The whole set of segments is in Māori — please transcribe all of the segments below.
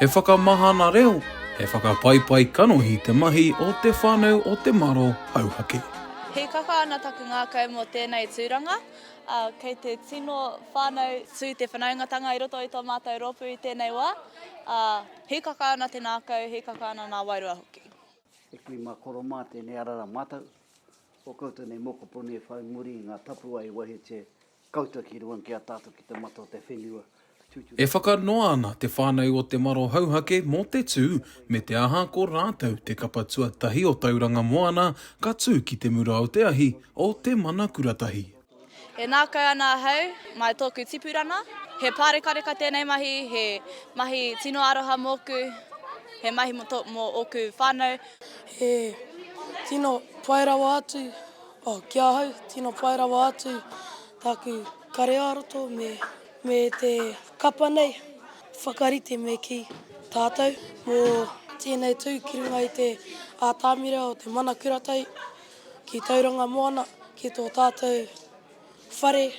He whakamahana reo, he whakapaipai kanohi te mahi o Te Whānau o Te Maro Hauhake. Hīkaka ana taku ngākau mō tēnei tūranga. Kei te tino whānau tū te whanaungatanga i roto i tō mātou rōpū i tēnei wā. Hīkaka ana te ngākau, hīkaka ana ngā wairua hoki. He kui mā koro mā tēnei ara rā mātou. Ko koutou nei mokopuna e whai muri i nga tapuwae i wahete koutou ki runga ki a tatou ki te mata o te whenua, tutu. E whakanoa ana te whānau o Te Maro Hauhake mō te tū, me te aha ko rātou te kapa tuatahi o Tauranga Moana ka tū ki te mura o te ahi o Te Manakuratahi. E ngākau ana ahau, mai tōku tipurana. He pārekareka tēnei mahi, he mahi tino aroha mōku, he mahi mō tō, mō ōku whānau. He tino pai rawa atu, oh, ki ahau, tino pai rawa atu tāku kare-ā-roto me, me te kapa nei, whakarite me kī, tātou, mō tēnei tū ki runga i te ātamira o te mana kuratai. ki Tauranga Moana, ki tō tātou whare.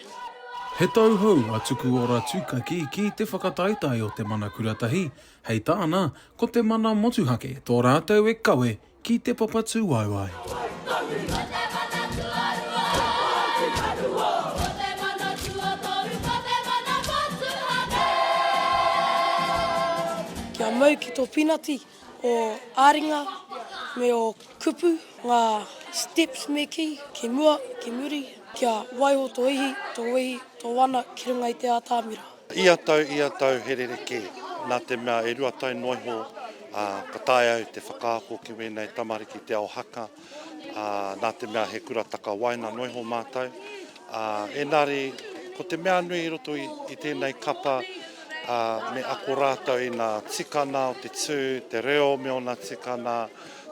He tauhou a Tukuora Tūkaki ki te whakataetae o te mana kuratahi, hei tāna, ko te mana motuhake tō rātou e kawe ki te papatūāu ai. Kia mau ki tō pinati! o ā-ringa me ō kupu, ngā steps me kī, ki mua, ki muri, kia waiho tō ihi, tō wehi, tō wana ki runga i te ātamira. Ia tau, ia tau he rerekē, nā te mea e rua tau noa iho ka taea au te whakaako ki wēnei tamariki te ao haka. nā te mea he kura takawaena noa iho mātou. Engari, ko te mea nui i roto i tēnei kapa, me ako rātou i ngā tikanga o te tū, te reo me ōna tikanga,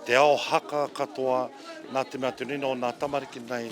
te ao haka katoa, nā te mea te rina o ngā tamariki nei,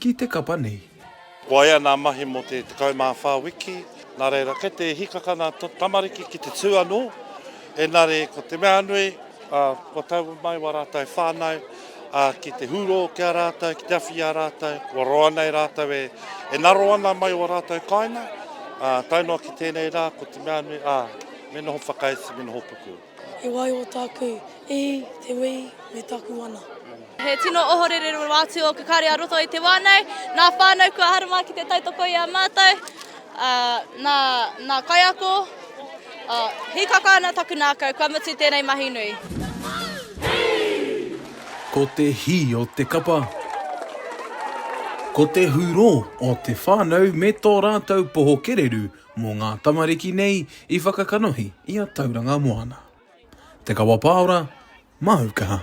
Ki te kapa nei. Waea nā mahi mō te 14 wiki, nā reira kei te hikaka nā tō tamariki ki te tū anō, engari ko te mea nui, kua taua mai wā rātou whānau ki te hūrō ki a rātou, ki te awhi i a rātou, kua roa nei rātou e ngaro ana mai ō rātou kāinga, tae noa ki tēnei rā, ko te mea nui, me noho whakaiti, me noho puku. He waioa tāku i te wī me taku wana. He tino ohorere rawa atu o Kakaari a roto i te wā nei. Nā whānau kua harama ki te tautoko i a mātou, nā, nā kaiako, hīkaka ana taku nākau, kua mutu tēnei mahi nui. Ko te hī o te kapa. Ko te hūrō o te whānau me tō rātou poho kererū mō ngā tamariki nei i whakakanohi i a Tauranga Moana. Te Kawa Paora, māu kaha.